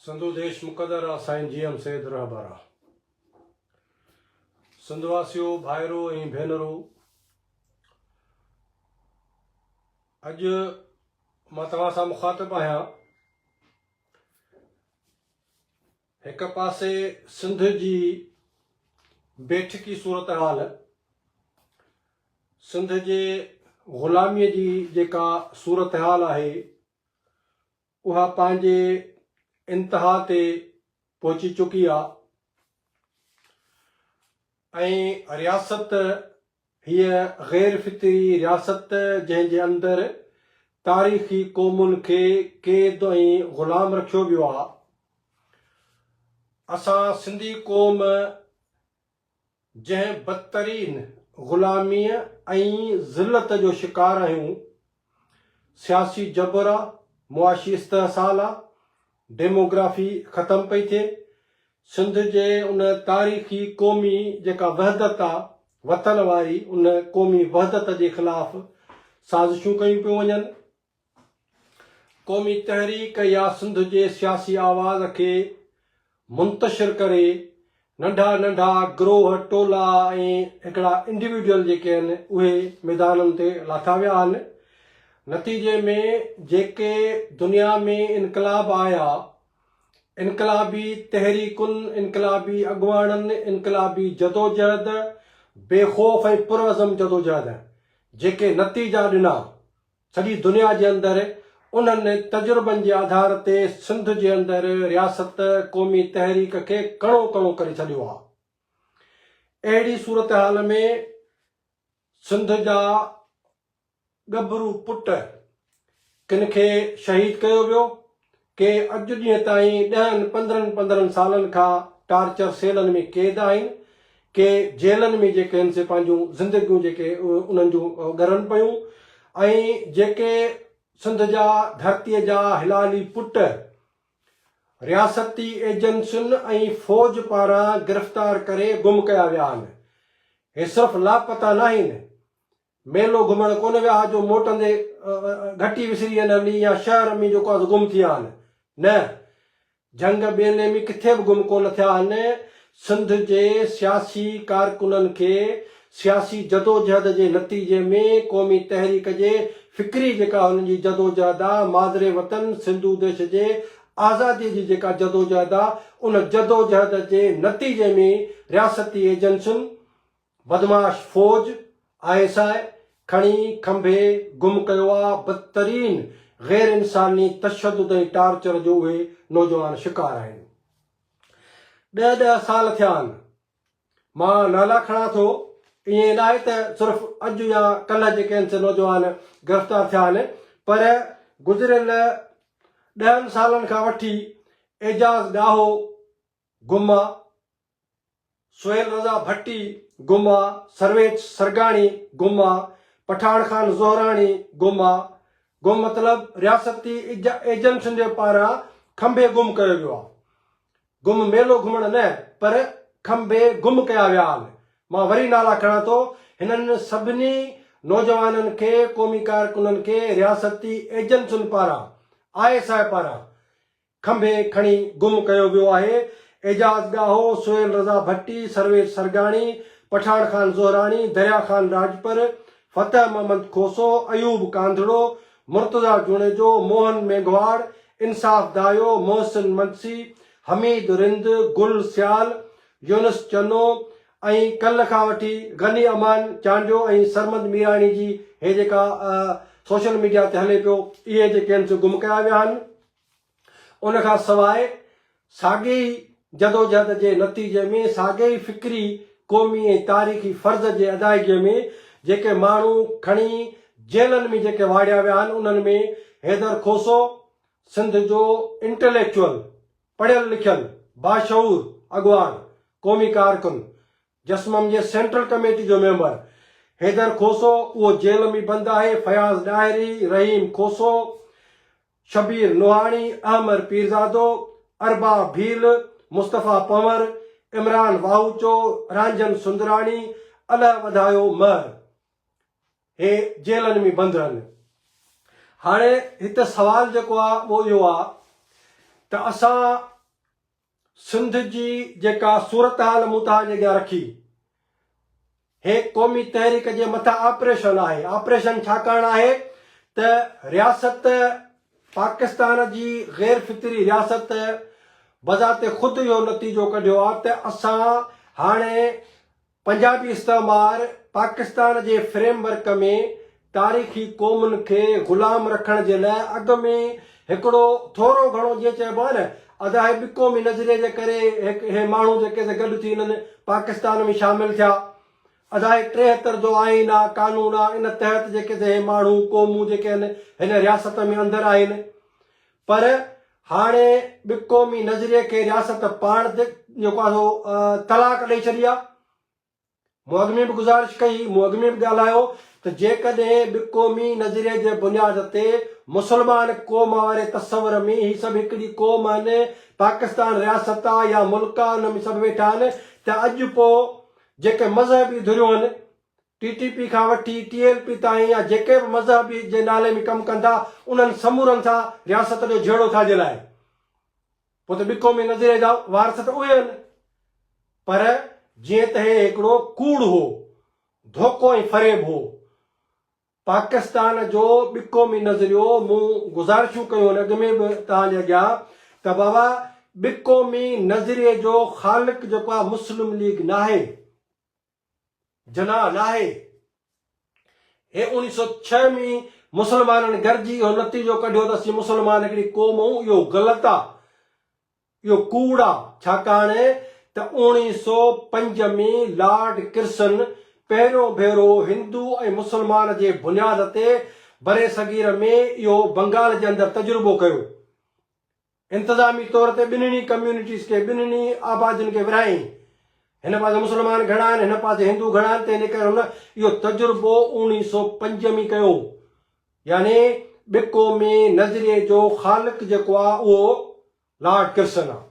سنڌو ديش مقدر آ Sain G M Syed رهبر آ سنڌ واسيو ڀائرو ۽ ڀينرو اڄ مان توهان سان مخاطب آهيان هڪ پاسي سنڌ جي بيٺڪي صورتحال سنڌ جي غلامي جي جيڪا صورتحال آهي اها پنهنجي انتها تي پهچي چڪي آ ۽ رياست هيء غير فطري رياست جنهن جي اندر تاريخي قومن کي قيد ۽ غلام رکيو ويو آ. اسان سنڌي قوم جنهن بدترين غلاميء ۽ ذلت جو شڪار آهيون، سياسي جبر آ، معاشي استحصال آ، ڊيموگرافي ختم پئي ٿئي، سنڌ جي ان تاريخي قومي جيڪا وحدت آ، وطن واري ان قومي وحدت جي خلاف سازشون ڪيون پيون وڃن. قومي تحريڪ يا سنڌ جي سياسي آواز کي منتشر ڪري ننڍا ننڍا گروهه ٽولا ۽ هڪڙا انڊيوڊيل جيڪي آهن اهي ميدانن تي لاٿا ويا آهن نتيجي ۾ جيڪي دنيا ۾ انقلاب آيا انقلابي تحريڪن انقلابي اڳواڻن انقلابي جدوجهد بي خوف ۽ پرعزم جدوجهد جيڪي نتيجا ڏنا سڄي دنيا جي اندر انهن تجربن جي آڌار تي سنڌ جي اندر رياست قومي تحريڪ کي ڪڻو ڪڻو ڪري ڇڏيو آهي. اهڙي صورتحال ۾ سنڌ جا ڳڀرو پٽ ڪن کي شهيد ڪيو ويو ڪي اڄ ڏينهن تائين ڏهن پندرهن پندرهن سالن کان ٽارچر سيلن ۾ قيد آهن، ڪي جيلن ۾ جيڪي هن سي پنهنجون زندگيون جيڪي انهن جون ڳرن پيون ۽ جيڪي سنڌ جا ڌرتي جا حلالي پٽ رياستي ايجنسين ۽ فوج پاران گرفتار ڪري گم ڪيا ويا آهن هي صرف لاپتا ناهن ميلو گهمڻ ڪونه ويا ها جو موٽندي گهٽي وسري وين ها ني يا شهر ۾ جو ڪوئنس گم ٿي آهن. نه! جهنگ ٻيلي ۾ ڪٿي به گم ڪونه ٿيا آهن. سنڌ جي سياسي ڪارڪنن کي سياسي جدوجهد جي نتيجي ۾ قومي تحريڪ جي فڪري جيڪا هنن جي جدوجهد آ، مادري وطن سنڌو ديش جي آزادي جي جيڪا جدوجهد آ، ان جدوجهد جي نتيجي ۾ رياستي ايجنسين، بدمعاش فوج آء ايس آء کڻي کنڀي گم ڪيو آ بدترين غير انساني تشدد ۽ ٽارچر جو اهي نوجوان شڪار آهن ڏهه ڏهه سال ٿيا آهن مان نالا کڻان ٿو ائين ناهي ته صرف اڄ يا ڪلهه جي ڪنهن سي نوجوان گرفتار ٿيا آهن پر گذريل ڏهن سالن کان وٺي اعجاز ڏاهو گم آ سهيل رضا ڀٽي، گوما، سرويچ سرگاڻي، گوما، پٺاڻ خان زهراڻي، گوما، گم مطلب رياستي ايجنسين جي پاران کنڀي گم ڪيو ويو آ. گم ميلو گهمڻ نه پر کنڀي گم ڪيا ويا آن. مان وري نالا کڻان ٿو هنن سڀني نوجوانن کي قومي ڪارڪنن کي رياستي ايجنسين پاران، آء ايس آء پاران کنڀي کڻي گم ڪيو ويو آهي، اعجاز ڳاهو، سهيل رضا ڀٽي، سرويچ سرگاڻي، پٺاڻ خان زهراڻي، دريا خان راڄپر، فتح محمد کوسو، ايوب ڪانڌڙو، مرتضيٰ جوڻيجو، موهن مينگهواڙ، انصاف دايو، محسن منسي، حميد رند، گل سيال، يونس چنو ۽ ڪلهه کان وٺي غني امان چانڊيو ۽ سرمد ميراڻي جي هي جيڪا سوشل ميڊيا تي هلي پيو اهي جيڪي هن سي گم ڪيا ويا آهن. ان کان سواء ساڳئي ئي جدوجهد جي نتيجي ۾ ساڳئي ئي فڪري، قومي ۽ تاريخي فرض جي ادائگيء ۾ جيڪي ماڻهو کڻي جيلن ۾ جيڪي واڙيا ويا آهن انهن ۾ حيدر کوسو سنڌ جو انٽليڪچوئل، پڙهيل لکيل، باشعور اڳواڻ، قومي ڪارڪن، جسمم جي سينٽرل ڪميٽي جو ميمبر حيدر کوسو اهو جيل ۾ بند آهي، فياض ڏاهري، رحيم کوسو، شبير نوحاڻي، احمر پيرزادو، اربع ڀيل، مصطفيٰ پنور، عمران واهوچو، رانجهن سندراڻي، الهه وڌايو مهر هي جيلن ۾ بند رهن. هاڻي هت سوال جيڪو آ اهو اهو آ ته اسان سنڌ جي جيڪا صورتحال مون توهان جي اڳيان رکي، هي قومي تحريڪ جي مٿان آپريشن آهي. آپريشن ڇاڪاڻ آهي ته رياست پاڪستان جي غير فطري رياست بذات خود اهو نتيجو ڪڍيو آهي ته اسان هاڻي پنجابي استعمار پاڪستان جي فريم ورڪ ۾ تاريخي قومن کي غلام رکڻ جي لاء اڳ ۾ هڪڙو ٿورو گهڻو جيئن چئبو آهي نه ادا هي ٻي قومي نظريي جي ڪري هڪ هي ماڻهو جيڪي سي گڏ ٿي انهن پاڪستان ۾ شامل ٿيا ادا هي ٽيهتر جو آئين آ قانون آ ان تحت جيڪي سي هي ماڻهو قومون جيڪي هن هن رياست ۾ اندر آهن پر هاڻي به قومي نظريي کي رياست پاڻ تي جيڪو آهي سو طلاق ڏئي ڇڏي آهي. مون اڳ ۾ به گذارش ڪئي هئي، مون اڳ ۾ به ڳالهايو ته جيڪڏهن به قومي نظريي جي بنياد تي مسلمان قوم واري تصور ۾ هي سڀ هڪڙي قوم آهن، پاڪستان رياست آ يا ملڪ آ ان ۾ سڀ ويٺا آهن ته اڄ پوء جيڪي مذهبي ڌريون آهن ٽي ٽي پي کان وٺي ٽي ايل پي تائين يا جيڪي به مذهب جي نالي ۾ ڪم ڪن ٿا انهن سمورن سان رياست جو جهيڙو ٿاجل آهي پوء ته ٻڪو ۾ نظريه جا وارث ته اهي آهن پر جيئن ته هي هڪڙو ڪوڙ هو ڌوڪو ۽ فريب هو پاڪستان جو ٻڪو ۾ نظريو مون گذارشون ڪيون آهن اڳ ۾ به توهان جي اڳيان ته بابا ٻڪو ۾ نظريه جو خالق جيڪو آهي مسلم ليگ ناهي جناح ناهي. هي اوڻي سئو ڇهه ۾ مسلمانن گڏجي اهو نتيجو ڪڍيو ته اسين مسلمان هڪڙي قوم آهيون اهو غلط آ اهو ڪوڙ آ ڇاڪاڻ ته اوڻي سئو پنج ۾ لارڊ ڪرسن پهريون ڀيرو هندو ۽ مسلمان جي بنياد تي برصغير ۾ اهو بنگال جي اندر تجربو ڪيو انتظامي طور تي ٻنهي ڪميونٽيز کي ٻنهي آبادين کي ورهائين. هن پاسي مسلمان گهڻا آهن هن پاسي هندو گهڻا آهن تنهن جي ڪري هن اهو تجربو اوڻي سو پنج ۾ ڪيو يعني ٻه قومي نظريي جو خالق جيڪو آهي اهو لارڊ ڪرسن آهي.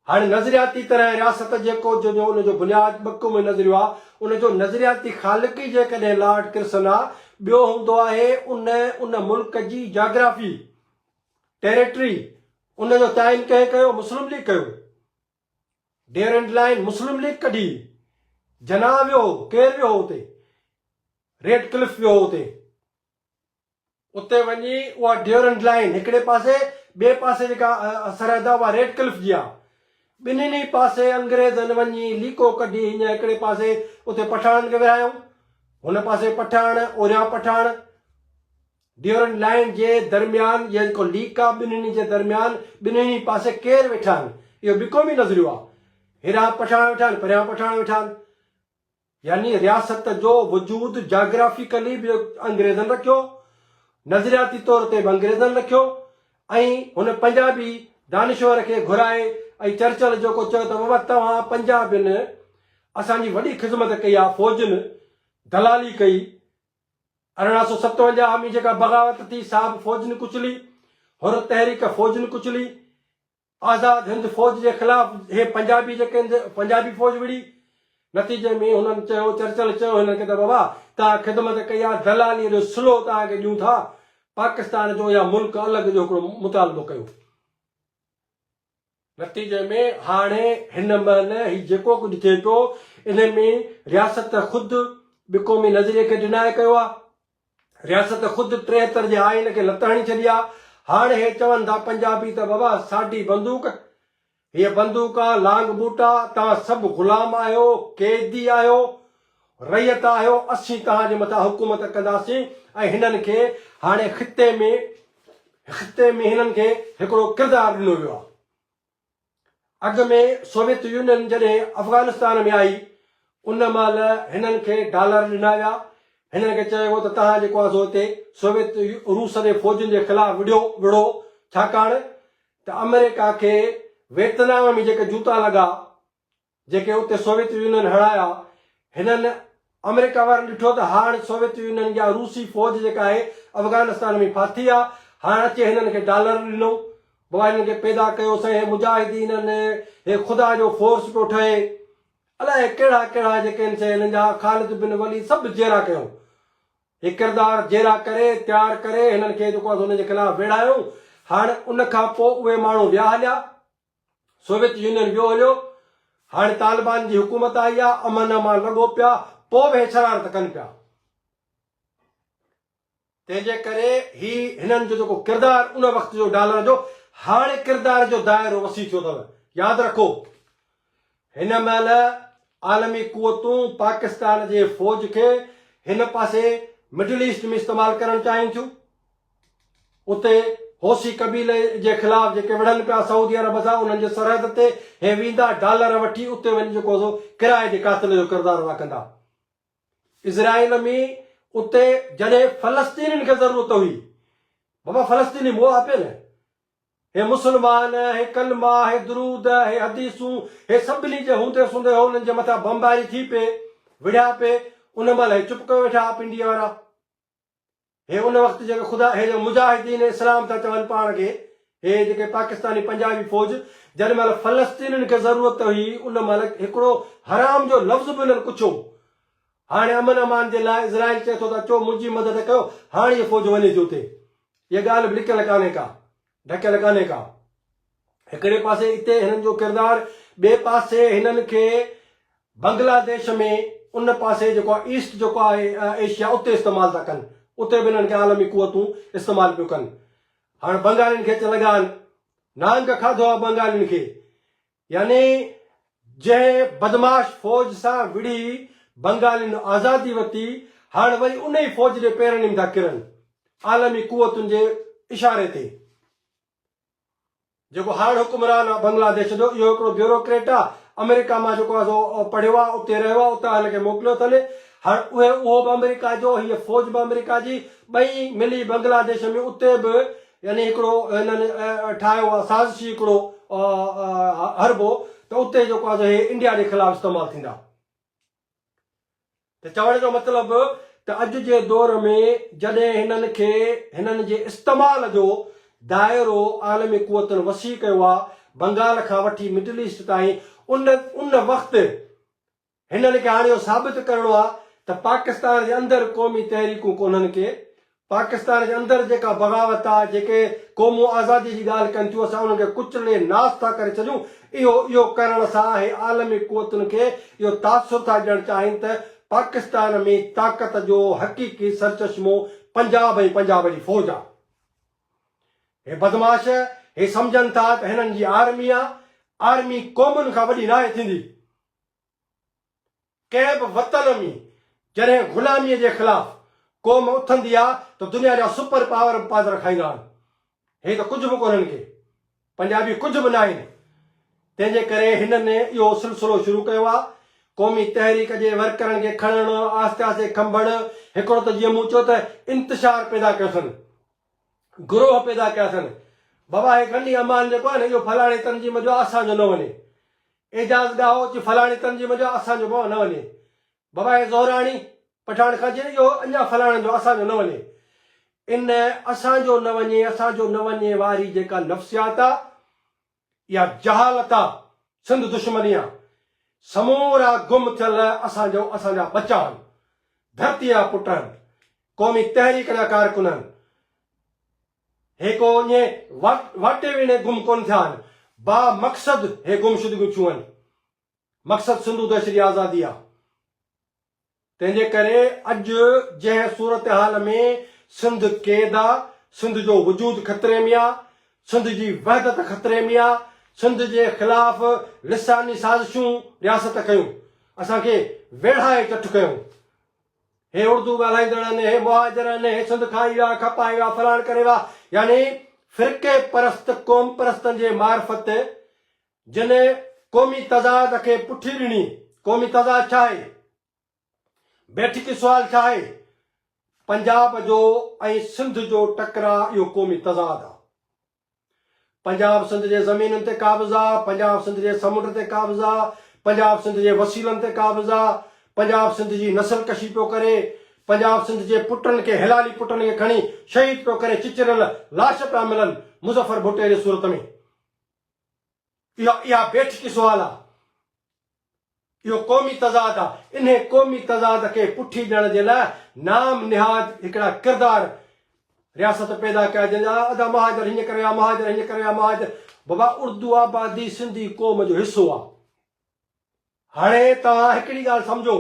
هاڻي نظرياتي طرح رياست جيڪو جو جو ان جو بنياد ٻه قومي نظريو آ، ان جو نظرياتي خالق ئي جيڪڏهن لارڊ ڪرسن آ، ٻيو هوندو آهي ان ان ملڪ جي جاگرافي، ٽيريٽري، ان جو تعين ڪنهن ڪيو؟ مسلم ليگ ڪيو. ڊيورنڊ لائين مسلم ليگ ڪڍي. جناح ويو هو، ڪير ويو هو اتي؟ ريڊ ڪلف ويو هو اتي. اتي وڃي اها ڊيورنڊ لائين هڪڙي پاسي ٻئي پاسي جيڪا سرحد آهي اها ريڊ ڪلف جي آهي. ٻنهين ئي پاسي انگريزن وڃي ليڪو ڪڍي هينئن هڪڙي پاسي اتي پٺاڻن کي ورهايائون. هن پاسي پٺاڻ اوريان پٺاڻ. ڊيورنڊ لائين جي درميان اها جيڪو ليڪ آهي ٻنهين جي درميان ٻنهين ئي پاسي ڪير ويٺا آهن اهو بي قومي نظريو آهي. هيڏانهن پٺاڻ ويٺا آهن پريان پٺاڻ ويٺا آهن. يعني رياست جو وجود جاگرافيڪلي به انگريزن رکيو، نظرياتي طور تي به انگريزن رکيو ۽ هن پنجابي دانشور کي گهرائي ۽ چرچل جيڪو چيو ته بابا توهان پنجابين اسان جي وڏي خذمت ڪئي آهي، فوجن دلالي ڪئي، ارڙهن سؤ ستونجاهه ۾ جيڪا بغاوت ٿي سا به فوجن ڪچلي، حر تحريڪ فوجن ڪچلي، آزاد هند فوج جي خلاف هي پنجابي جيڪي هند پنجابي فوج وڙهي. نتيجي ۾ هنن چيو چرچل چيو هنن کي ته بابا توهان خدمت ڪئي آهي دلاليء جو سلو توهان کي ڏيون ٿا پاڪستان جو يا ملڪ الڳ جو هڪڙو مطالبو ڪيو. نتيجي ۾ هاڻي هن مهل هي جيڪو ڪجهه ٿئي پيو ان ۾ رياست خود ٻه قومي نظريي کي ڊناء ڪيو آهي. رياست خود ٽيهتر جي آئين کي لت هڻي ڇڏي آ هاڻ هي چون ٿا پنجابي ته بابا ساڍي بندوق هيء بندوق آ لانگ بوٽا توهان سڀ غلام آهيو قيدي آهيو رعيت آهيو اسين توهان جي مٿان حڪومت ڪنداسين ۽ هنن کي هاڻي خطي ۾ خطي ۾ هنن کي هڪڙو ڪردار ڏنو ويو آ. اڳ ۾ سوويت يونين جڏهن افغانستان ۾ آئي، ان مهل هنن کي ڊالر ڏنا ويا. هنن کي چيو ويو ته توهان جيڪو آهي سو هتي سوويت روس جي فوجن جي خلاف وڙهيو وڙهو، ڇاڪاڻ ته آمريڪا کي ويتنام ۾ جيڪي جوتا لڳا، جيڪي اتي سوويت يونين هڻايا، هنن آمريڪا وارن ڏٺو ته هاڻ سوويت يونين جا روسي فوج جيڪا آهي افغانستان ۾ ڦاٿي آ، هاڻ اچي هنن کي ڊالر ڏنو، بابا هنن کي پيدا ڪيو سائين هي مجاهدين ان هي خدا جو فورس پيو ٺهي، الائي ڪهڙا ڪهڙا جيڪي آهن سي هنن جا خالد بن وليد سڀ جيئرا ڪيائون، هي ڪردار جيئرا ڪري تيار ڪري هنن کي جيڪو آهي سو ان جي خلاف ويڙهايائون، هاڻ ان کان پوء اهي ماڻهو ويا هليا. سوويت يونين ويو هليو، هاڻي طالبان جي حڪومت آئي آ، امن امان لڳو پيا، پوء به هي شرارت ڪن پيا. تنهن جي ڪري هي هنن جو جيڪو ڪردار ان وقت جو ڊالر جو، هاڻي ڪردار جو دائرو وسيع ٿيو اٿو. ياد رکو! هن مهل عالمي قوتون پاڪستان جي فوج کي هن پاسي مڊل ايسٽ ۾ استعمال ڪرڻ چاهين ٿيون. اتي حوثي قبيلي جي خلاف جيڪي وڙهن پيا سعودي عرب سان انهن جي سرحد تي هي ويندا ڊالر وٺي اتي وڃي جيڪو سو ڪرائي جي قاتل جو ڪردار ادا ڪندا. اسرائيل ۾ اتي جڏهن فلسطينين کي ضرورت هئي بابا فلسطيني موها پئي نه هي مسلمان هي ڪلما هي درود هي حديثون هي سڀني جي هوندي سوندي هو انهن جي مٿان بمباري ٿي پئي وڙهيا پئي ان مهل هي چپ ڪيو ويٺا هئا پنڊي وارا هي ان وقت جيڪي خدا هي جو مجاهدين اسلام ٿا چون پاڻ کي هي جيڪي پاڪستاني پنجابي فوج جڏهن مهل فلسطينين کي ضرورت هئي ان مهل هڪڙو حرام جو لفظ به انهن ڪڇيو هاڻي امن امان جي لاء اسرائيل چئي ٿو ته اچو منهنجي مدد ڪيو هاڻ هي فوج وڃي ٿي اتي اها ڳالهه به لڪيل ڪانهي ڪا ڍڪيل ڪانهي ڪا. هڪڙي پاسي اتي هنن جو ڪردار ٻئي پاسي هنن کي بنگلا ديش ۾ ان پاسي جيڪو آهي ايسٽ جيڪو آهي ايشيا اتي استعمال ٿا ڪن اتي به هنن کي عالمي قوتون استعمال پيون ڪن هاڻ بنگالين کي اچ لڳا آهن نانگ کاڌو آهي بنگالين کي يعني جنهن بدمعاش فوج سان وڙهي بنگالين آزادي وتي هاڻ وري ان ئي فوج ڏي پير نيم ٿا ڪرن عالمي قوتن جي اشاري تي. جيڪو هاڻ حڪمران آ بنگلا ديش جو اهو هڪڙو بيوروڪريٽ آ آمريڪا مان جيڪو آ سو پڙهيو آ اتي رهيو آ اتان هن کي موڪليو اٿن هاڻ اهي اهو به آمريڪا جو هيء فوج به آمريڪا جي ٻئي ملي بنگلا ديش ۾ اتي به يعني هڪڙو هنن ٺاهيو آهي سازشي هڪڙو حربو ته اتي جيڪو آهي سو هي انڊيا جي خلاف استعمال ٿيندا. ته چوڻ جو مطلب ته اڄ جي دور ۾ جڏهن هنن کي هنن جي استعمال جو دائرو عالمي قوتن وسيع ڪيو آهي بنگال کان وٺي مڊل ايسٽ تائين ان ان وقت هنن کي هاڻي اهو ثابت ڪرڻو آهي ته پاڪستان جي اندر قومي تحريڪون ڪونهن ڪي. پاڪستان جي اندر جيڪا بغاوت آهي، جيڪي قومون آزادي جي ڳالهه ڪن ٿيون، اسان انهن کي ڪچلي ناس ٿا ڪري ڇڏيون. اهو اهو ڪرڻ سان اهي عالمي قوتن کي اهو تاثر ٿا ڏيڻ چاهين ته پاڪستان ۾ طاقت جو حقيقي سرچشمو پنجاب ۽ پنجاب جي فوج آهي. هي بدمعاش، هي سمجهن ٿا ته هنن جي آرمي آهي. آرمي قومن کان وڏي ناهي ٿيندي. ڪنهن به وطن ۾ جڏهن غلاميء جي خلاف قوم اٿندي آ ته دنيا جا سپر پاور به پادر کائيندا آهن. هي ته ڪجهه به ڪونهن ڪي. پنجابي ڪجهه به ناهن. تنهن جي ڪري هنن اهو سلسلو شروع ڪيو آ. قومي تحريڪ جي ورڪرن کي کڻڻ، آهستي آهستي کنڀڻ، هڪڙو ته جيئن مون چيو ته انتشار پيدا ڪيو اٿن. گروهه پيدا ڪيا اٿن. بابا هي غني امان جيڪو آهي نه اهو فلاڻي تنظيم جو آ اسان جو نه وڃي. اعجاز ڳاهو چي فلاڻي تنظيم جو اسان جو به نه وڃي. ببايا زهراڻي پٺاڻ کان چي اهو اڃا فلاڻن جو اسان جو نه وڃي. ان اسان جو نه وڃي اسان جو نه وڃي واري جيڪا نفسيات آ يا جهالت آ سنڌ دشمني آ. سمورا گم ٿيل اسان جو اسان جا ٻچا هن. ڌرتيء جا پٽ هن. قومي تحريڪ جا ڪارڪن هن. هي ڪو اڃي واٽي ويڻي گم ڪونه ٿيا آهن، با مقصد هي گمشدگيون ٿيون آهن. مقصد سنڌو دهشت جي آزادي آهي. تنهن جي ڪري اڄ جنهن صورتحال ۾ سنڌ قيد آهي، سنڌ جو وجود خطري ۾ آهي، سنڌ جي وحدت خطري ۾ آهي، سنڌ جي خلاف لساني سازشون رياست ڪيون، اسان کي ويڙهائي چٺ ڪيون، هي اڙدو ڳالهائيندڙ آهن، هي مهاجر آهن، هي سنڌ کان آئي ويا، کپائي ويا، فلاڻ ڪري ويا، يعني فرقي پرست قوم پرستن جي معرفت جن قومي تضاد کي پٺي ڏني، قومي تضاد ڇا آهي؟ بيٺڪي سوال ڇا آهي؟ پنجاب جو ۽ سنڌ جو ٽڪراء اهو قومي تضاد آ. پنجاب سنڌ جي زمينن تي قابضه، پنجاب سنڌ جي سمنڊ تي قابضه، پنجاب سنڌ جي وسيلن تي قابضه، پنجاب سنڌ جي نسل ڪشي پيو ڪري، پنجاب سنڌ جي پٽن کي حلالي پٽن کي کڻي شهيد پيو ڪري چچريل لاش پيا ملن مظفر ڀٽي جي صورت ۾. اهو اها بيٺڪي سوال آ. اهو قومي تضاد آ. انهي قومي تضاد کي پٺي ڏيڻ جي لاء نام نهاد هڪڙا ڪردار رياست پيدا ڪيا جن جا ادا مهاجر هينئن ڪري آ مهاجر هينئن ڪري آ مهاجر بابا اردو آبادي سنڌي قوم جو حصو آ. هاڻي توهان هڪڙي ڳالهه سمجهو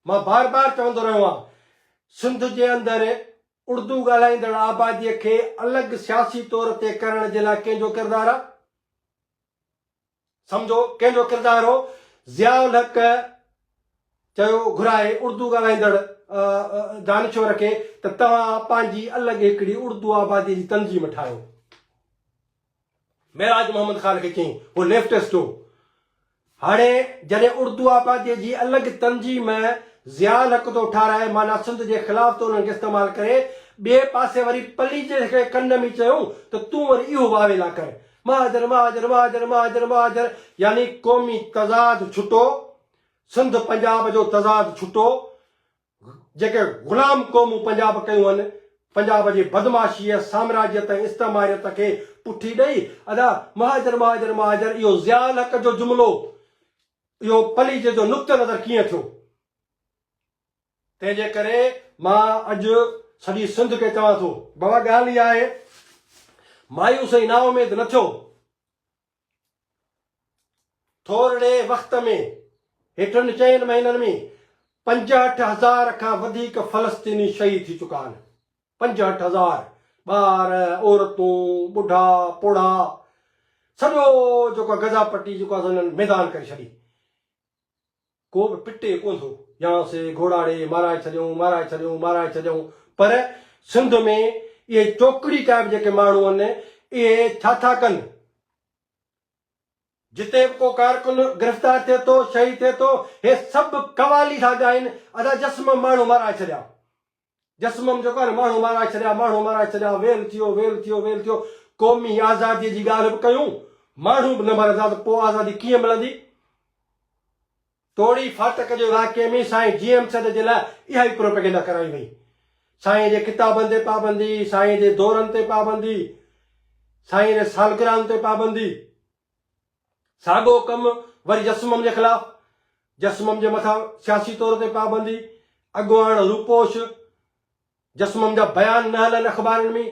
مان بار بار چوندو رهيو آهيان سنڌ جي اندر اڙدو ڳالهائيندڙ آباديء کي الڳ سياسي طور تي ڪرڻ جي لاء ڪنهن جو ڪردار آهي؟ سمجهو ڪنهن جو ڪردار هو؟ ضياء الحق چيو گهرائي اڙدو ڳالهائيندڙ دانشور کي ته توهان پنهنجي الڳ هڪڙي اڙدو آباديء جي تنظيم ٺاهيو. معراج محمد خان کي چيائين، هو ليفٽس جو هو. هاڻي جڏهن اردو آباديء جي الڳ تنظيم ۾ ضياء الحق ٿو ٺهرائي، معنيٰ سنڌ جي خلاف ٿو انهن کي استعمال ڪري، ٻئي پاسي وري پليجي کي ڪن ۾ چيو ته تون وري اهو واويلا ڪر، مهاجر، مهاجر، مهاجر، مهاجر، مهاجر، يعني قومي تضاد ڇٽو، سنڌ پنجاب جو تضاد ڇٽو، جيڪي غلام قومون پنجاب ڪيون هن پنجاب جي بدمعاشيء، سامراجيت ۽ استعماريت کي پٺي ڏئي ادا مهاجر مهاجر مهاجر اهو ضياء الحق جو جملو اهو پليجي جو نقطه نظر ڪيئن ٿيو؟ تنهن جي ڪري مان اڄ سڄي سنڌ کي چوان ٿو. بابا ڳالهه اها آهي مايوس ۽ نااميد نه ٿيو ٿورڙي وقت ۾ هيٺن چئن مهينن ۾ پنجهٺ هزار کان وڌيڪ فلسطيني شهيد ٿي چڪا آهن. پنجهٺ هزار ٻار، عورتون، ٻڍا، پوڙها سڄو جيڪو غزا پٽي جيڪو آهي سو هنن ميدان ڪري ڇڏي. ڪو به پٽي ڪونه ٿو. ياڻو سي گهوڙاڙي مارائي ڇڏيئون، مارائي ڇڏيئون، مارائي ڇڏيئون. پر سنڌ ۾ اهي چوڪڙي ٽائيپ جيڪي ماڻهو آهن، اهي ڇا ٿا ڪن؟ جتي به ڪو ڪارڪن گرفتار ٿئي ٿو، شهيد ٿئي ٿو، اهي سڀ قوالي ٿا ڳائين، ادا جسم ماڻهو مارائي ڇڏيا. جسمم جو ڪن ماڻهو مارائي ڇڏيا، ماڻهو مارائي ڇڏيا، ويل ٿيو، ويل ٿيو، ويل ٿيو، قومي آزاديء جي ڳالهه به ڪيون، ماڻهو به نه مرندا ته پوء آزادي ڪيئن ملندي؟ توڙي ڦاٽڪ جي واقعي ۾ سائين جي ايم سيد جي لاء اها ئي پروپيگنڊا ڪرائي وئي. سائين جي ڪتابن تي پابندي، سائين جي دورن تي پابندي، سائين جي سالگرهن تي پابندي. ساڳو ڪم وري جسمم جي خلاف، جسمم جي مٿان سياسي طور تي پابندي، اڳواڻ روپوش، جسمم جا بيان نه هلن اخبارن ۾،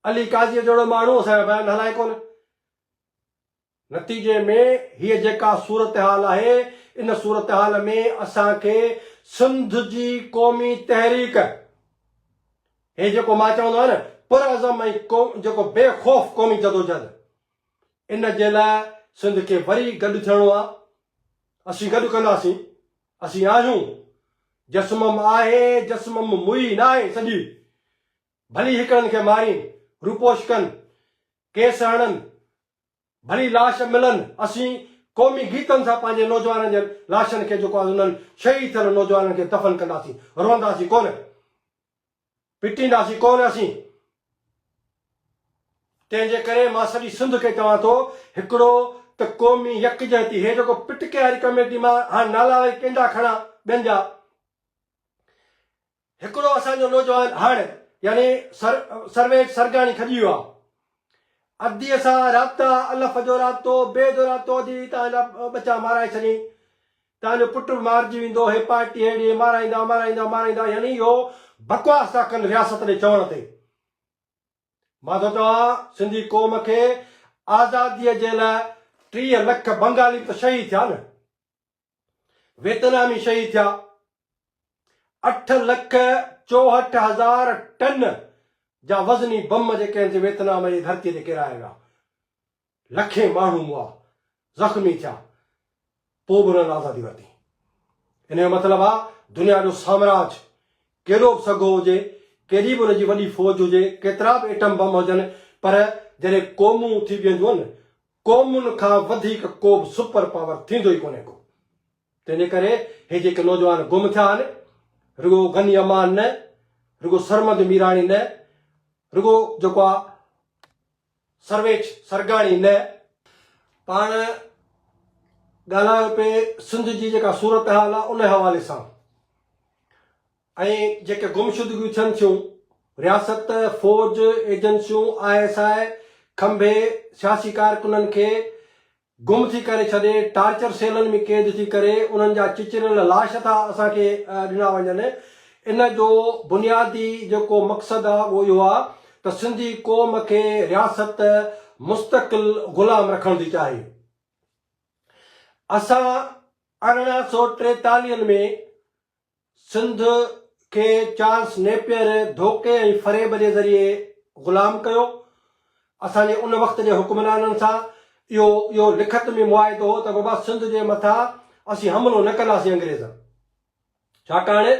علي قاضيء جهڙو ماڻهو اسان جا بيان هلائي ڪونه. نتيجي ۾ هيء جيڪا صورتحال آهي، ان صورتحال ۾ اسان کي سنڌ جي قومي تحريڪ، هي جيڪو مان چوندو آهيان نه پرعزم ۽ جيڪو بي خوف قومي جدوجهد، ان جي لاء سنڌ کي وري گڏ ٿيڻو آ اسين گڏ ڪنداسين اسين آهيون جسمم آهي جسمم موئي ناهي سڄي ڀلي هڪڙن کي مارين روپوش ڪن ڪيس هڻن ڀلي لاش ملن اسين قومي گيتن سان پنهنجي نوجوانن جي لاشن کي جيڪو آ انهن شهيد ٿيل نوجوانن کي دفن ڪنداسين روئنداسين ڪونه پٽينداسين ڪونه اسين. تنهن جي ڪري مان سڄي سنڌ کي چوان ٿو هڪڙو ته قومي يڪجهتي هي جيڪو پٽڪي واري ڪميٽي مان هاڻ نالا وري ڪنهن جا کڻان ٻين جا هڪڙو اسان جو نوجوان هاڻ يعني سر سرويچ سرگاڻي کڄي ويو آ ادي سان رابطا الف جو رابطو بي جو رابطو ادي تان جا ٻچا مارائي ڇڏين تنهنجو پٽ به مارجي ويندو هي پارٽي ههڙي هي مارائيندا مارائيندا مارائيندا يعني اهو بڪواس ٿا ڪن رياست ڏي چوڻ تي مان ٿو چوان سنڌي قوم کي آزادي جي لاء ٽيهه لک بنگالي ته شهيد ٿيا نه ويتنامي شهيد ٿيا اٺ لک چوهٺ هزار ٽن جا وزني بم جيڪي آهن سي ويتنام جي ڌرتي تي ڪيرايا ويا لکين ماڻهو مئا، زخمي ٿيا، پوء به انهن آزادي ورتي. ان جو مطلب آ دنيا جو سامراج ڪيڏو به سگهو هجي، ڪيڏي به ان جي وڏي فوج هجي، ڪيترا به ايٽم بم هجن پر جڏهن قومون ٿي بيهنديون، قومن کان وڌيڪ ڪو به سپر پاور ٿيندو ئي ڪونهي ڪو. تنهن جي ڪري هي جيڪي نوجوان گم ٿيا آهن، رڳو غني امان نه، رڳو سرمد ميراڻي نه، رڳو جيڪو آ، سرويچ سرگاڻي نه پاڻ ڳالهايو پئي سنڌ جي جيڪا صورتحال آ ان حوالي سان ۽ جيڪي گمشدگيون ٿين ٿيون رياست فوج ايجنسيون آء ايس آء کنڀي سياسي ڪارڪنن کي گم ٿي ڪري ڇڏي ٽارچر سيلن ۾ قيد ٿي ڪري انهن جا چچريل لاش ٿا اسان کي ڏنا وڃن ان جو بنيادي جيڪو مقصد آ اهو اهو آ ته سنڌي قوم کي رياست مستقل غلام رکڻ ٿي چاهي اسان ارڙهن سؤ ٽيتاليهن ۾ سنڌ کي چارلس نيپئر ڌوڪي ۽ فريب جي ذريعي غلام ڪيو. اسان جي ان وقت جي حڪمرانن سان اهو اهو لکت ۾ معاهدو هو ته بابا سنڌ جي مٿان اسين حملو نه ڪنداسين انگريزن ڇاڪاڻ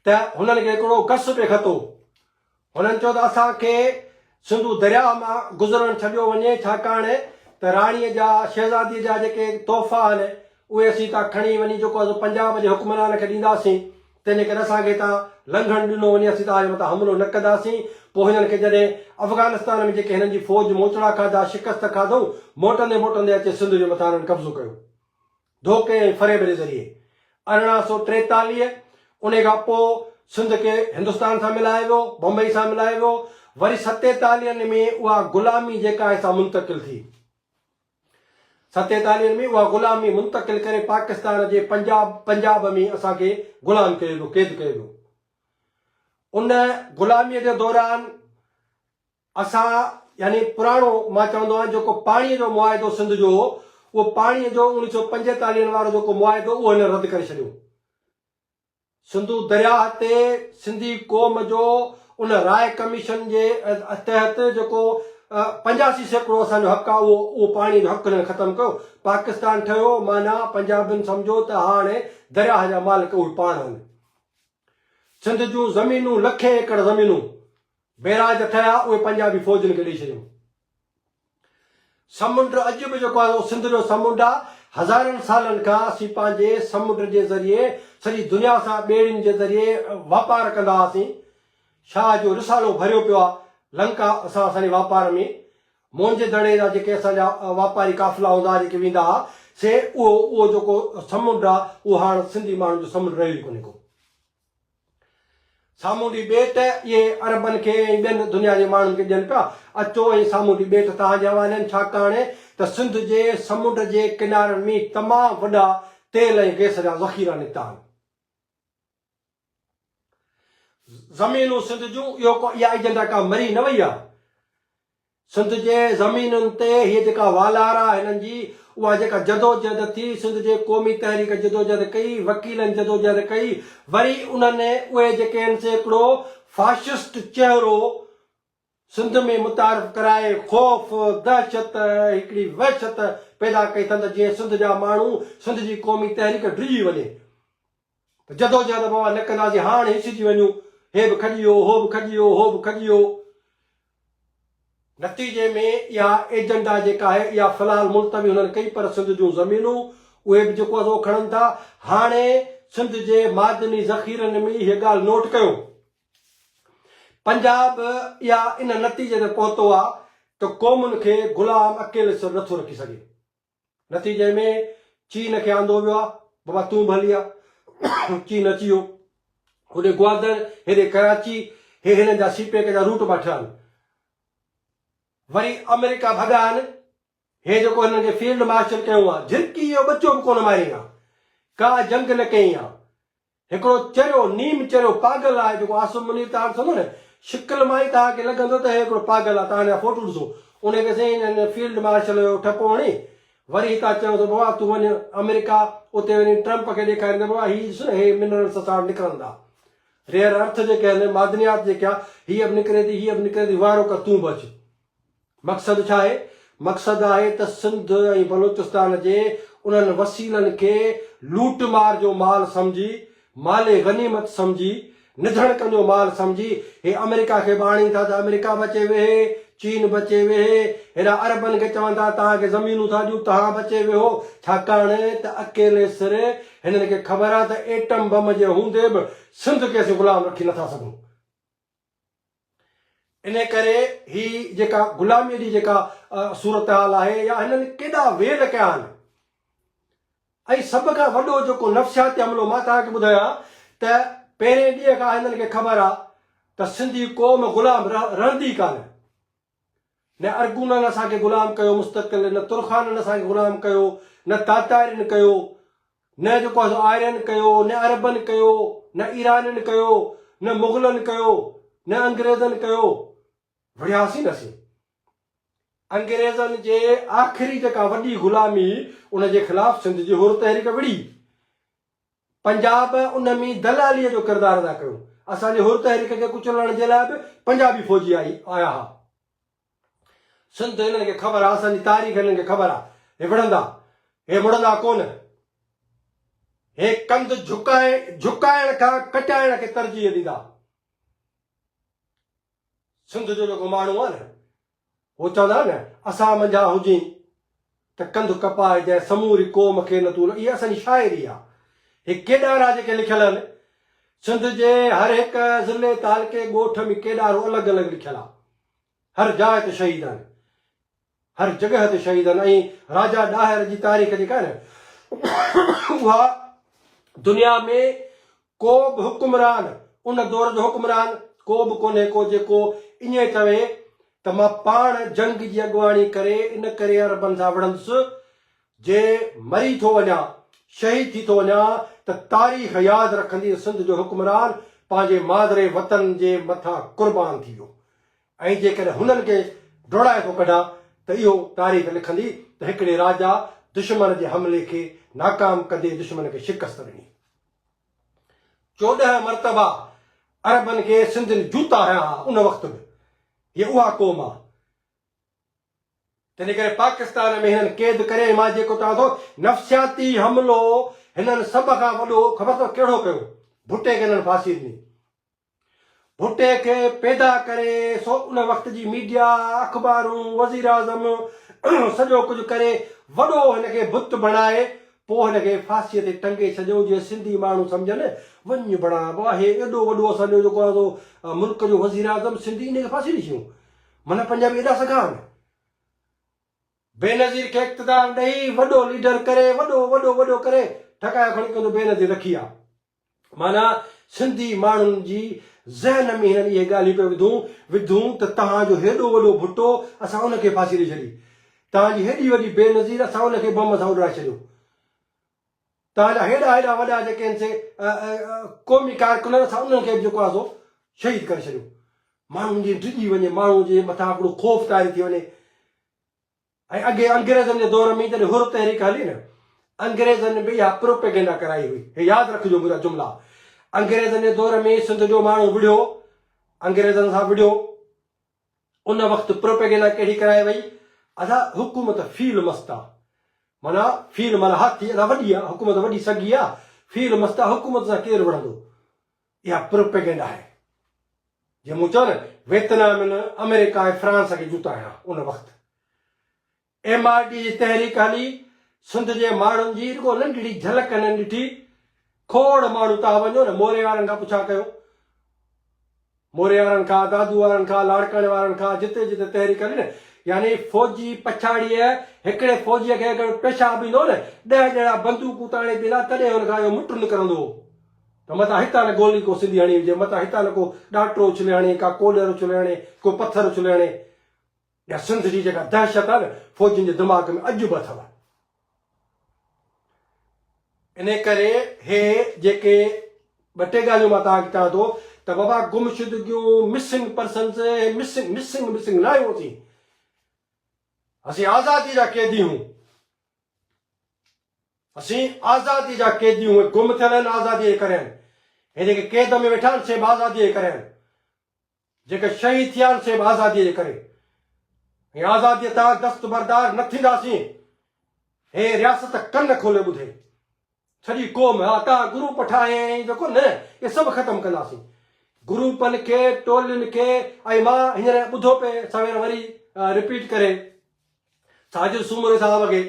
ته هنن کي هڪڙو گس به خط هو. هنن چيو ته اسان کي سنڌو درياهه مان گذرڻ ڇڏيو وڃي ڇاڪاڻ ته راڻي جا شهزادي جا جيڪي تحفا آهن اهي اسين هتان کڻي وڃي جيڪو اسين پنجاب جي حڪمران کي ڏينداسين تنهنجي ڪري اسان کي هتان لنگهڻ ڏنو وڃي اسين توهان جي مٿان حملو نه ڪنداسين پوء هنن کي جڏهن افغانستان ۾ جيڪي هنن جي فوج موچڙا کاڌا شڪست کاڌئون موٽندي موٽندي اچي سنڌ جي مٿان هنن قبضو ڪيو. ڌوڪي ۽ فريب جي ذريعي ارڙهن سؤ ٽيتاليهه انهي کان پوء سنڌ کي هندستان سان ملايو ويو، بمبئي سان ملايو ويو، وري ستيتاليهن ۾ اها غلامي جيڪا هي سا منتقل ٿي. ستيتاليهن ۾ اها غلامي منتقل ڪري پاڪستان جي پنجاب پنجاب ۾ اسان کي غلام ڪيو ويو، قيد ڪيو ويو. ان غلاميء جي دوران اسان يعني پراڻو مان چوندو آهيان جيڪو پاڻيء جو معاهدو سنڌ جو هو، اهو پاڻيء جو اوڻيھ سؤ پنجيتاليھ هن وارو جيڪو معاهدو اهو هن رد ڪري ڇڏيو. سنڌو درياهه تي سنڌي قوم جو ان راء ڪميشن جي تحت جيڪو پنجاسي سيڪڙو اسان جو حق آهي اهو اهو پاڻيء جو حق هنن ختم ڪيو. پاڪستان ٺهيو معنيٰ پنجابين سمجهو ته هاڻ درياهه جا مالڪ اهي پاڻ آهن. سنڌ جون زمينون لکين ايڪڙ زمينون بئراج ته ٺهيا، اهي پنجابي فوجن کي ڏئي ڇڏيون. سمنڊ اڄ به جيڪو آهي اهو سنڌ جو سمنڊ آهي. هزارن سالن کان اسين پنهنجي سمنڊ جي ذريعي سڄي دنيا سان ٻيڙين جي ذريعي واپار ڪندا هئاسين. شاهه جو رسالو ڀريو پيو آهي لنڪا سان اسان جي واپار ۾. موئنجي دڙي جا جيڪي اسان جا واپاري قافلا هوندا هئا جيڪي ويندا هئا سي اهو اهو جيڪو سمنڊ آهي اهو هاڻ سنڌي ماڻهن جو سمنڊ رهيو ئي ڪونهي ڪو. سامونڊي ٻيٽ اهي عربن کي ۽ ٻين دنيا جي ماڻهن کي ڏين پيا، اچو ۽ سامونڊي ٻيٽ توهان جي حوالي آهن ڇاڪاڻ ته سنڌ جي سمنڊ جي ڪنارن ۾ تمام وڏا تيل ۽ گئس جا ذخيرا نڪتا آهن. زمينون سنڌ جون اهو ڪو اها ايجنڊا ڪا مري نه وئي آهي. سنڌ جي زمينن تي هيء جيڪا والار آ هنن جي اها جيڪا جدوجهد ٿي سنڌ جي قومي تحريڪ جدوجهد ڪئي وڪيلن جدوجهد ڪئي وري انهن اهي جيڪي هن سي هڪڙو فاشسٽ چهرو سنڌ ۾ متعارف ڪرائي خوف دهشت هڪڙي وحشت پيدا ڪئي ٿن ته جيئن سنڌ جا ماڻهو سنڌ جي قومي تحريڪ ڊڄي وڃي جدوجهد اوهان نه ڪنداسين، هاڻ هيسجي وڃون، هي به کڄي ويو، هو به کڄي ويو، هو به کڄي ويو. نتيجي ۾ اها ايجنڊا جيڪا آهي، اها في الحال ملتوي هنن ڪئي پر سنڌ جون زمينون، اهي به جيڪو ازو کڻن ٿا. هاڻي سنڌ جي معدني ذخيرن ۾ هيء ڳالهه نوٽ ڪيو. پنجاب اها ان نتيجي تي پهتو آهي ته قومن کي غلام اڪيلي سر نٿو رکي سگهي. نتيجي ۾ چين کي آندو ويو آ. بابا تون به هلي آ. چين اچي ويو. هوڏي گوادر، هيڏي ڪراچي، هي هنن جا سي پيڪ جا روٽ ٻاٺا آهن. وري آمريڪا ڀڳا آهن. هي جيڪو هنن کي فيلڊ مارشل ڪيو آ، جهرڪي جو ٻچو به ڪونه مارين آ. ڪا جنگ نه ڪئين آ. هڪڙو چريو، نيم چريو پاگل آهي جيڪو عاصم منير تان ڏسندو نه، شڪل مان ئي توهان کي لڳندو ته هي هڪڙو پاگل آهي، توهان هن جا فوٽو ڏسو، ان کي سائين هن فيلڊ مارشل جو ٺپو هڻي، وري هتان چيو ته بابا تون وڃ آمريڪا، اتي وڃي ٽرمپ کي ڏيکارين ته بابا هي ڏس نه هي منرلز اسان وٽ نڪرن ٿا. ريئر ارٿ جيڪي آهن، معدنيات جيڪي آهي، هيء به نڪري ٿي، هيء به نڪري ٿي، وائرو ڪر تون به اچ. مقصد ڇا آهي؟ مقصد آهي ته سنڌ ۽ بلوچستان جي انهن وسيلن کي لوٽ مار جو مال سمجهي، مال غنيمت سمجهي، نڌڻڪن جو مال سمجهي هي آمريڪا کي به آڻين ٿا ته آمريڪا به اچي ويهي، چين به اچي ويهي، هيڏانهن عربن کي چون ٿا توهان کي زمينون ٿا ڏيون توهان به اچي ويهو، ڇاڪاڻ ته اڪيلي سر هنن کي خبر آهي ته ايٽم بم جي هوندي به سنڌ کي اسين غلام رکي نٿا سگهون. انهيء ڪري هي جيڪا غلاميء جي جيڪا صورتحال آهي يا هنن ڪيڏا ويل ڪيا آهن ۽ سڀ کان وڏو جيڪو نفسياتي حملو مان توهان کي ٻڌايان ته پهرين ڏينهن کان هنن کي خبر آهي ته سنڌي قوم غلام رهندي ڪانه نه ارغونن اسان کي غلام ڪيو مستقل نه ترخانن اسان کي غلام ڪيو نه تاتارين ڪيو نه جيڪو آهي سو آرين ڪيو نه عربن ڪيو نه ايرانين ڪيو نه مغلن ڪيو نه انگريزن ڪيو وڙهياسين اسين انگريزن جي آخري جيڪا وڏي غلامي ان جي خلاف سنڌ جي حر تحريڪ وڙهي پنجاب ان ۾ دلاليء جو ڪردار ادا ڪيو. اسان جي حر تحريڪ کي ڪچلڻ جي لاء به پنجابي فوجي آئي آيا ها. سنڌ ته هنن کي خبر آ، اسان جي تاريخ هنن کي خبر آ. هي وڙهندا، هي مڙندا ڪونه. هي ڪنڌ جهڪائي جهڪائڻ کان ڪٽائڻ کي ترجيح ڏيندا. سنڌ جو جيڪو ماڻهو آ نه، هو چوندا نه اسان منجهان هجين ته ڪنڌ ڪپائي جنهن سموري قوم کي نه تون نه اها اسان جي شاعري آ هي ڪيڏار آ جيڪي لکيل آهن سنڌ جي هر هڪ ضلعي تعلقي ڳوٺ ۾ ڪيڏارو الڳ الڳ لکيل آ هر جاء تي شهيد آهن هر جڳهه تي شهيد آهن ۽ راجا ڏاهر جي تاريخ جيڪا آهي نه اها دنيا ۾ ڪو به حڪمران، ان دور جو حڪمران ڪو به ڪونهي ڪو جيڪو ائين چوي ته مان پاڻ جنگ جي اڳواڻي ڪري ان ڪري عربن سان وڙهندس جي مري ٿو وڃان، شهيد ٿي ٿو وڃان ته تاريخ ياد رکندي ته سنڌ جو حڪمران پنهنجي مادري وطن جي مٿان قربان ٿي ويو ۽ جيڪڏهن هنن کي ڊوڙائي ٿو ڪڍان ته اهو تاريخ لکندي ته هڪڙي راجا دشمن جي حملي کي ناڪام ڪندي دشمن کي شڪست ڏني. چوڏهن مرتبا عربن کي سنڌين جوتا هنيا ها ان وقت به هي اها قوم آ تنهن ڪري پاڪستان ۾ هنن قيد ڪري مان جيڪو چوان ٿو نفسياتي حملو هنن سڀ کان وڏو خبر اٿو ڪهڙو ڪيو ڀٽي کي هنن ڦاسي ڏني ڀٽي کي پيدا ڪري سو ان وقت جي ميڊيا، اخبارون، وزيراعظم سڄو ڪجهه ڪري وڏو هن کي بت بڻائي پوء هن کي ڦاسيء تي ٽنگي ڇڏيو جيئن سنڌي ماڻهو سمجهن وڃ بڙا ابا هي ايڏو وڏو اسان جو جيڪو آهي سو ملڪ جو وزيراعظم سنڌي ان کي ڦاسي ڏئي ڇڏيون معنيٰ پنجابي ايڏا سگها آهن. بينظير کي اقتدار ڏئي وڏو ليڊر ڪري وڏو وڏو وڏو ڪري ٺڪايو کڻي ڪيو ته بينظير رکي آ معنيٰ سنڌي ماڻهن جي ذهن ۾ هنن اهي ڳالهيون پيو وڌون وڌون ته توهان جو هيڏو وڏو ڀٽو اسان ان کي ڦاسي ڏئي ڇڏي، توهان جي هيڏي وڏي بينظير اسان ان کي بم سان اڏرائي ڇڏيو. توهان جا هيڏا هيڏا وڏا جيڪي آهن سي قومي ڪارڪنن اسان انهن کي به جيڪو آهي سو شهيد ڪري ڇڏيو. ماڻهو جيئن ڊڄي وڃي، ماڻهو جي مٿان هڪڙو خوف طاري ٿي وڃي. ۽ اڳي انگريزن جي دور ۾ جڏهن حر تحريڪ هلي نه انگريزن به اها پروپيگنڊا ڪرائي هئي. هي ياد رکجو منهنجا جملا. انگريزن جي دور ۾ سنڌ جو ماڻهو وڙهيو، انگريزن سان وڙهيو. ان وقت پروپيگنڊا ڪهڙي ڪرائي وئي؟ ادا حڪومت فيل مست آ. معنيٰ فيل معنيٰ هاٿي ادا وڏي آ، حڪومت وڏي سگهي آ، فيل مست آ، حڪومت سان ڪير وڙهندو؟ اها پروپيگنڊا آهي جي مون چيو نه ويتنام نه امريڪا ۽ فرانس کي جوتا هڻيا ان وقت ايم آر ڊي جي تحريڪ هلي سنڌ جي ماڻهن جي رڳو ننڍڙي جھلڪ هنن ڏٺي کوڙ ماڻهو تها وڃو نه موري وارن کان پڇا ڪيو موري وارن کان دادو وارن کان لاڙڪاڻي وارن کان جتي جتي تحريڪ هلي نه يعني فوجي پڇاڙيء هڪڙي فوجي کي اگر پيشاب ايندو نه ڏهه ڄڻا بندوقون تاڻي بيهندا تڏهن هن کان اهو مٽ نڪرندو ته متان هتان نه گولي ڪو سنڌي هڻي هجي، متان هتان نه ڪو ڏانٽرو اڇلي هڻي، ڪا ڪولهر اڇلي هڻي، ڪو پٿر اڇلي هڻي. اها سنڌ جي جيڪا دهشت آهي نه، فوجين جي دماغ ۾ اڄ به اٿو. انهيء ڪري هي جيڪي ٻه ٽي ڳالهيون مان توهان کي چوان ٿو ته بابا گمشدگيون، Missing Persons، هي Missing Missing Missing نه آهيون اسين. اسين آزاديء جا قيدي هون. اسين آزاديء جا قيدي آهيون، اهي گم ٿيل آهن آزاديء جي ڪري آهن، هي جيڪي قيد ۾ ويٺا آهن سي به آزاديء جي ڪري آهن، جيڪي شهيد ٿيا آهن سي به آزاديء جي ڪري ۽ آزاديء تان دستبردار نه ٿينداسين، هي رياست ڪن کولي ٻڌي، سڄي قوم عطا گرو پٺاهين جو ڪو نه اهي سڀ ختم ڪنداسين گروپن کي ٽولين کي ۽ مان هينئر ٻڌو پئي سوير وري رپيٽ ڪري ساجد سومري صاحب اڳي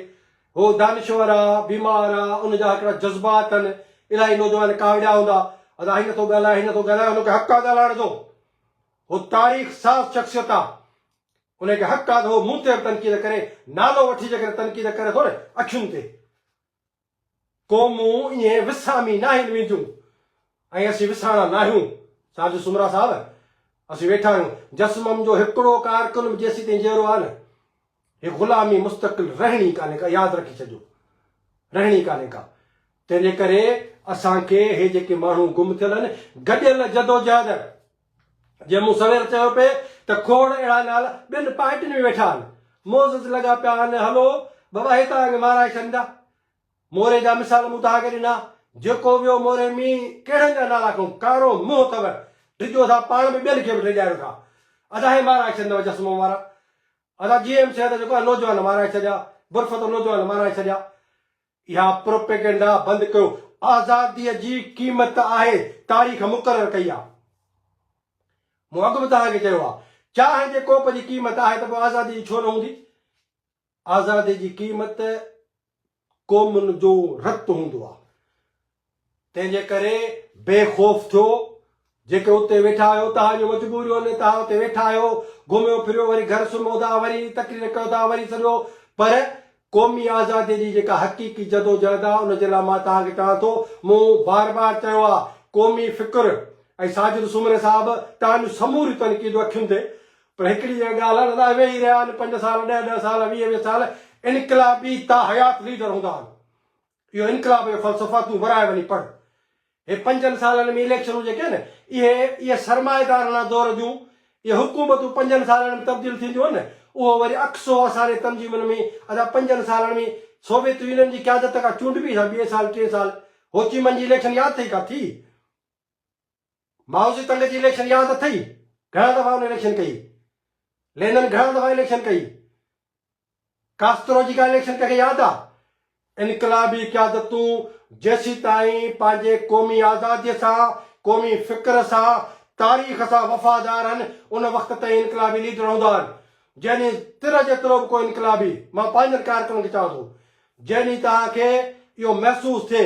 هو دانشور آ بيمار آ ان جا هڪڙا جذبات تن الائي نوجوان ڪاوڙيا هوندا ادا هي نٿو ڳالهائي هي نٿو ڳالهائي ان کي حق آ ڳالهائڻ جو هو تاريخ ساز شخصيت آ ان کي حق آ ته هو مون تي به تنقيد ڪري نالو وٺي جيڪڏهن تنقيد ڪري ٿو نه اکين تي قومون ائين وسامي ناهن وينديون ۽ اسين وسامڻا ناهيون. ساجد سومرا صاحب، اسين ويٺا آهيون. جسمم جو هڪڙو ڪارڪن به جيسيتائين جيئرو آهي نه، هي غلامي مستقل رهڻي ڪانهي ڪا، ياد رکي ڇڏجو. رهڻي ڪانهي ڪا. تنهنجي ڪري اسان کي هي جيڪي ماڻهو گم ٿيل آهن، گڏيل جدوجهد. جيئن مون سوير چيو پئي ته کوڙ اهڙا نال ٻين پارٽين ۾ ويٺا آهن، معزز لڳا پيا آهن هلو بابا هي توهان کي مارائي ڇڏيندا. موري جا مثال مون توهان کي ڏنا، جيڪو ويو موري مين ڪهڙن جا نالا کنئون، ڪارو منهن اٿئو، ڊڄو ٿا پاڻ به ٻين کي به ڊڄايو ٿا. ادا هي مارائي ڇڏيندؤ چشمو وارا. ادا جي ايم سيد جيڪو آهي نوجوان مارائي ڇڏيا، برفت نوجوان مارائي ڇڏيا. اها پروپيگنڊا بند ڪيو. آزاديء جي قيمت آهي تاريخ مقرر ڪئي آهي. مون اڳ به توهان کي چيو آهي چانهه جي ڪوپ جي قيمت آهي ته پوء آزادي جي ڇو نه هوندي؟ آزادي جي قيمت قومن جو رت هوندو آهي. تنهن جي ڪري بي خوف ٿيو. جيڪي اتي ويٺا آهيو، توهان جون مجبوريون آهن، توهان اتي ويٺا آهيو، گهميو ڦريو، وري گهر سمهو ٿا، وري تقرير ڪيو ٿا، وري سڄو، پر قومي آزاديء جي جيڪا حقيقي جدوجهد آهي، ان جي لاء مان توهان کي چوان ٿو، مون بار بار چيو آهي، قومي فڪر ۽ ساجد سومري صاحب توهان جون سموريون تنقيدون اکين تي، پر هڪڙي جيڪا ڳالهه آهي نه، توهان ويهي رهيا آهيو پنج سال، ڏهه ڏهه سال، ويهه ويهه سال، انقلابي تاحيات ليڊر هوندا آهن، اهو انقلاب جو فلسفه تون ورهائي وڃي پڙهه. هي پنجن سالن ۾ اليڪشنون جيڪي آهن اهي اهي سرمائيدارڻا دور جون اهي حڪومتون پنجن سالن ۾ تبديل ٿينديون آهن نه اهو وري عڪس هو اسان جي تنظيمن ۾ اسان پنجن سالن ۾ سوويت يونين جي قيادت کان چونڊبي سان ٻئي سال ٽئين سال هوچيمن جي اليڪشن ياد اٿئي ڪا ٿي؟ مائوزي تنگ جي اليڪشن ياد اٿئي؟ گهڻا دفعا ان اليڪشن ڪئي. لينن گهڻا دفعا اليڪشن ڪئي. ڪاسترو جي ڪا اليڪشن ڪنهن کي ياد آ؟ انقلابي قيادتون جيسيتائين پنهنجي قومي آزادي سان، قومي فڪر سان، تاريخ سان وفادار هن ان وقت تائين انقلابي ليڊر هوندا آهن. جنهن ڏينهن تر جيترو به ڪو انقلابي، مان پنهنجن ڪارڪنن کي چوان ٿو، جنهن ڏينهن توهان کي اهو محسوس ٿئي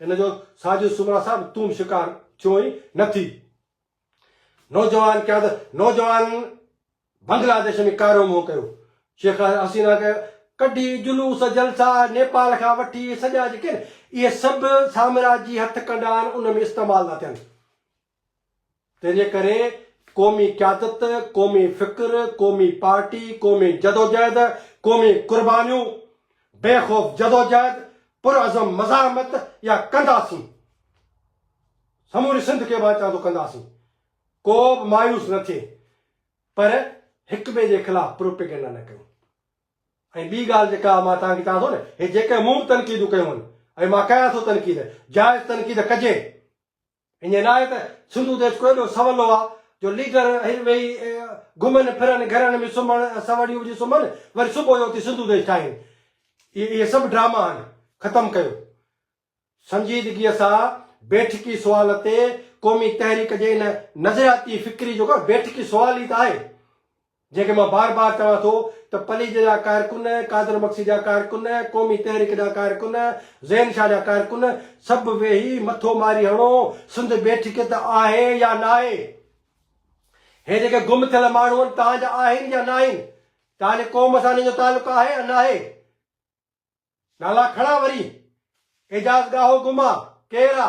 ان جو ساجهو سومرا صاحب تون به شڪار ٿيوئين نه ٿي. نوجوان قيادت نوجوان بنگلاديش ۾ ڪارو منهن ڪيو. شيخ حسينا ڪيو ڪڍي جلوس جلسا نيپال کان وٺي سڄا جيڪي اهي سڀ سامراجي هٿ ڪنڊا آهن ان ۾ استعمال ٿا ٿين. تنهنجي ڪري قومي قيادت، قومي فڪر، قومي پارٽي، قومي جدوجهد، قومي قربانيون، بي خوف جدوجهد، پرعزم مزاحمت يا ڪنداسين. سموري سنڌ کي مان چوان ٿو ڪنداسين. ڪو به مايوس نه ٿئي پر هڪ ٻئي جي خلاف پروپيگنڊا نه ڪيون. ۽ ٻي ڳالهه جيڪا مان توهان کي چوان ٿو نه هي جيڪي مون به تنقيدون ڪيون آهن ۽ مان ڪيان ٿو تنقيد جائز تنقيد ڪجي. انهيء لاء ته سنڌو ديس ڪو ايڏو سولو آ جو ليڊر اهي ويهي گهمن ڦرن، گهرن ۾ سمهن، سوڙيون وجهي سمهن، وري صبح جو اٿي سنڌو ديس ٺاهين. اهي سڀ ڊراما آهن. ختم ڪيو. سنجيدگيء سان بيٺڪي سوال تي قومي تحريڪ جي ان نظرياتي فڪري جو ڪو بيٺڪي سوال ئي ته آهي. جنهن کي مان بار بار چوان ٿو ته پليجي جا ڪارڪن، قادر مگسي جا ڪارڪن، قومي تحريڪ جا ڪارڪن، زين شاهه جا ڪارڪن سڀ ويهي مٿو ماري هڻو، سنڌ بيٺڪ ته آهي يا ناهي؟ هي جيڪي گم ٿيل ماڻهو آهن توهان جا آهن يا ناهن؟ توهان جي قوم سان هنن جو تعلق آهي يا ناهي؟ نالا کڻان وري اعجاز ڳاهو گم آ، ڪير آ؟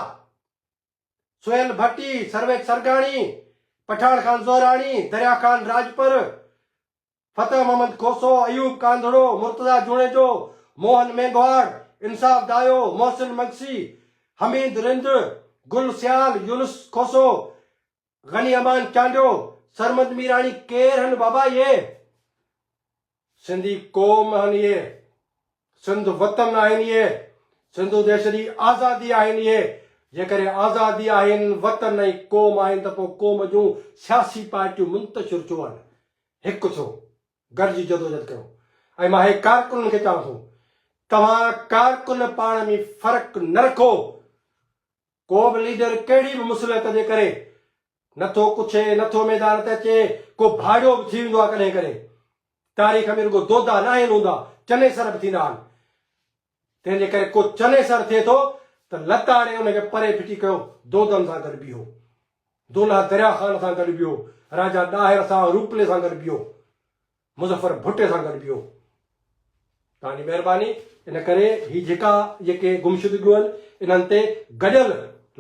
سهيل ڀٽي، سرويچ سرگاڻي، پٺاڻ خان زهراڻي، دريا خان راڄپر، فتح محمد کوسو، ايوب ڪانڌڙو، مرتضيٰ جوڻيجو، موهن مينگهواڙ، انصاف دايو، محسن مگسي، حميد رند، گل سيال، يونس کوسو، غني امان چانڊيو، سرمد ميراڻي ڪير هن بابا اهي؟ سنڌي قوم هن اهي، سنڌ وطن آهن اهي، سنڌو ديش جي آزادي آهن اهي، جيڪڏهن آزادي آهن، وطن ۽ قوم آهن ته پوء قوم جون سياسي پارٽيون منتشر ڇو آهن؟ هڪ ٿيو، گڏجي جدوجهد ڪيو ۽ مان اهي ڪارڪنن کي چوان ٿو، توهان ڪارڪن پاڻ ۾ فرق نه رکو، ڪو به ليڊر ڪهڙي به مصلحت جي ڪري نه ٿو ڪڇي، نه ٿو ميدان تي اچي، ڪو ڀاڙيو به ٿي ويندو آهي ڪڏهن ڪڏهن. تاريخ ۾ رڳو دودا ناهن هوندا، چنيسر به ٿيندا آهن. تنهن جي ڪري ڪو چنيسر ٿئي ٿو ته لتاڙي ان کي پري ڦٽي ڪيو، دودن سان گڏ بيهو. دولهه دريا خان سان گڏ بيهو، راجا ڏاهر سان، روپلي سان گڏ بيهو. مظفر ڀٽي سان گڏ بيهو. توهان جي مهرباني ان ڪري هي جهڪا جيڪي گمشدگيون آهن انهن تي گڏيل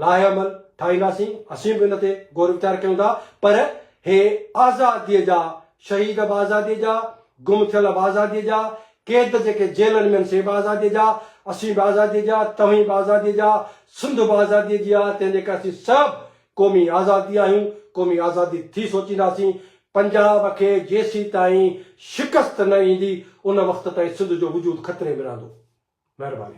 لائحه عمل ٺاهينداسين اسين به ان تي غور ويچار ڪيون ٿا پر هي آزادي جا شهيد به آزادي جا گم ٿيل به آزادي جا قيد جيڪي جيلن ۾ آهن سي به آزادي جا اسين به آزادي جا توهين به آزادي جا سنڌ به آزادي جي آهي تنهن جي ڪري اسين سڀ قومي آزادي آهيون، قومي آزادي ٿي سوچينداسين، پنجاب کي جيسيتائين شڪست نه ايندي ان وقت تائين سنڌ جو وجود خطري ۾ رهندو. مهرباني.